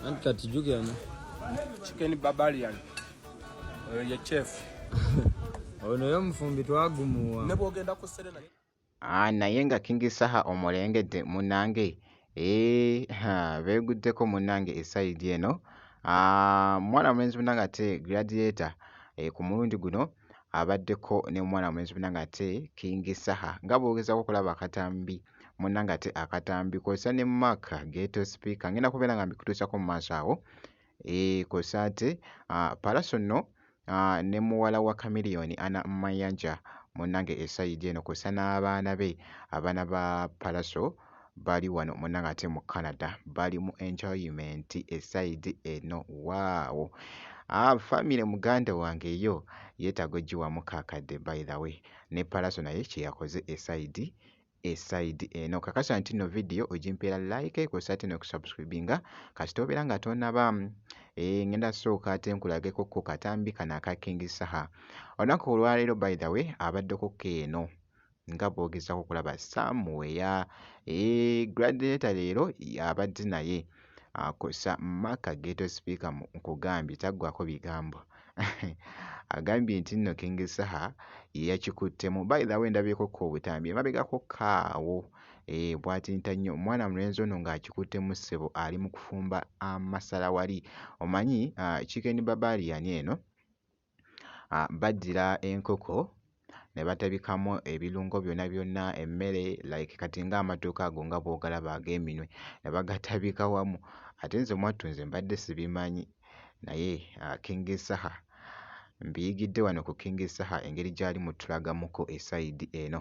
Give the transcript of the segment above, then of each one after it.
Anti kati jukira no. Chicken barbarian. Oyo ye chef. Ono yo mufumbi twagumuwa. Nebo ogenda ku serena. Ah naye nga King Saha omulengedde munange. Eeh haa beguddeko munnange e side eno aah mwana mulenzi munnange ate gladiator eeh ku mulundi guno abaddeko ne mwana mulenzi munnange ate king saha nga bw'ogezaako okulaba akatambi munnange ate akatambi kw'ossa ne mark ghetto speaker ngenda kubeera nga mbikutuusako mu maaso awo. Eeh kwosa ate Pallaso no ne muwala wa Chameleon Anna Mayanja munange esayidi eno kwosa n'abaana be abaana ba Pallaso bali wano munange ate mu Canada bali mu enjoyment esayidi eno waawo family muganda wange eyo yetaaga ogiwamu kakadde by the way ne Pallaso naye kyeyakoze esayidi e side eno kakasa nti no video ojimpeera like kwosa ate nokusubscribinga kasita obeera nga tonaba e, ngenda sooka ate nkulageko ko katambi kano aka king saha olunaku olwaleero by the way abaddeko ko eno nga bwogezako okulaba samuweya e, gladiator leero abadde naye kwossa Mark Ghetto Speaker mu nkugambye taggwaako bigambo. Agambye nti nno King Saha ye yakikuttemu. By the way ndabyeko ko obutambi emabegako ko awo eh, bwatinta nnyo omwana mulenzi ono ng'akikuttemu ssebo ali mu kufumba amasala wali. Omanyi ah, Chicken Barbarian eno. ah bagira enkoko ne batabikamu ebirungo byona byona emmere like kati nga amatooke ago nga bwogalaba ag'eminwe ne bagatabika wamu ate nze mwattu nze mbadde sibimanyi naye ah King Saha mbiyigidde wano ku King Saha engeri gyali mutulagamuko esayidi eno.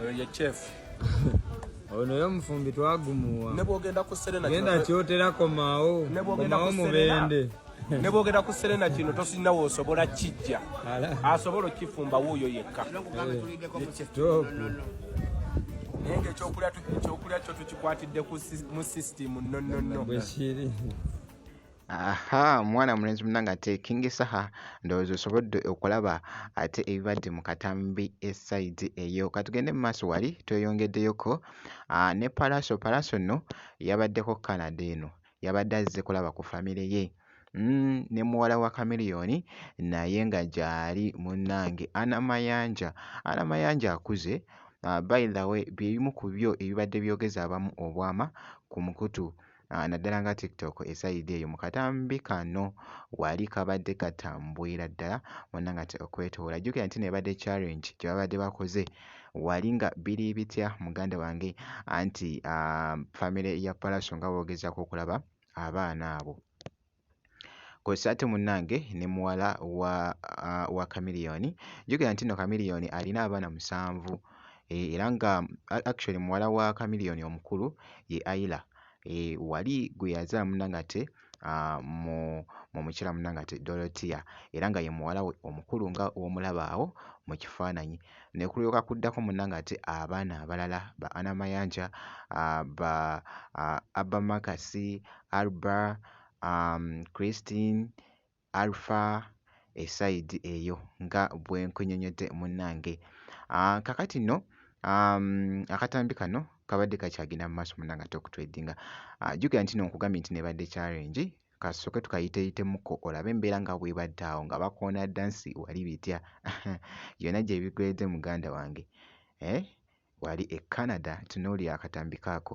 Oyo ye chef. Ono yo mufumbi twagumuwa. Ne bwogenda ku Serena. Genda kyotera komaawo. Ne bwogenda ku Serena. Ne bwogenda ku Serena kino tosinna woosobola kijja. Asobola okifumba wuuyo yekka. Kitoopu. Naye ng'ekyokulya ekyokulya kyo tukikwatidde mu sisitimu nnonnonno. Bwe kiri. aha mwana mulenzi munange ate king saha ndowooza osobodde okulaba ate ebibadde mu katambi esaidi eyo katugende mu maaso wali tweyongeddeyoko ah, ne palaso palaso no yabaddeko canada eno yabadde azze kulaba ku famire ye mm, ne muwala wa kamiliyoni naye nga gyali munnange ana mayanja ana mayanja akuze ah, by the way byebimu ku byo ebibadde byogeza abamu obwama ku mukutu naddala nga tiktok esayidi eyo mu katambi kano wali kabadde katambwira ddala wonna nga okwetoola jjukira nti nebadde challenge gye babadde bakoze wali nga biri bitya muganda wange anti ah, famire ya palaso nga boogezaako okulaba abaana abo kw'ossa ate munnange ne muwala wa uh, wa Chameleone njogera nti nno Chameleone alina abaana musanvu eh, era nga actually muwala wa Chameleone omukulu ye Ayla eh, wali gwe yazaala munnange ate uh, mu mu mukyala munnange ate Dorothea era nga ye muwala we omukulu nga w'omulaba awo mu kifaananyi ne kulyoka kuddako munnange ate abaana abalala ba Anna Mayanja, ba Abba Marcus, Alba, Christine, Alpha esayidi eyo nga bwe nkunnyonnyodde munnange. Kaakati nno akatambi kano kabadde kakyagenda mu maaso munnange ate okutwedinga. Jjukira nti nno nkugambye nti n'ebadde challenge kasooke tukayiteeyitemuko olabe embeera nga bw'ebadde awo nga bakoona dda nsi wali bitya byonna gye bigweedde muganda wange eh, wali e Canada tunuulira akatambi kaako.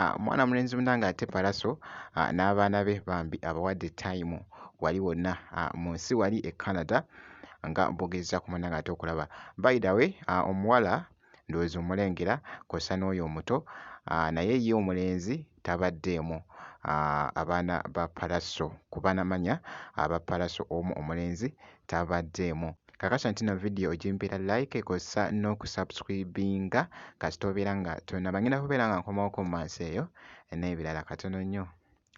Ah, omwana mulenzi muna nga ate palaso ah, n'abaana be bambi abawadde time wali wonna ah, mu nsi wali e canada nga bogezza ku muna nga ate okulaba by the way omuwala ndowooza omulengera kw'ossa n'oyo omuto naye ye omulenzi tabaddeemu. Abaana ba Pallaso ku banamanya aba Pallaso omu omulenzi tabaddeemu. Kakasa nti no vidiyo ogimpira like kw'ossa n'okusubscribinga kasita obeera nga tonnaba. Ngenda kubeera nga nkomawo ku mmansa eyo n'ebirala. Katono nnyo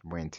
bwenti.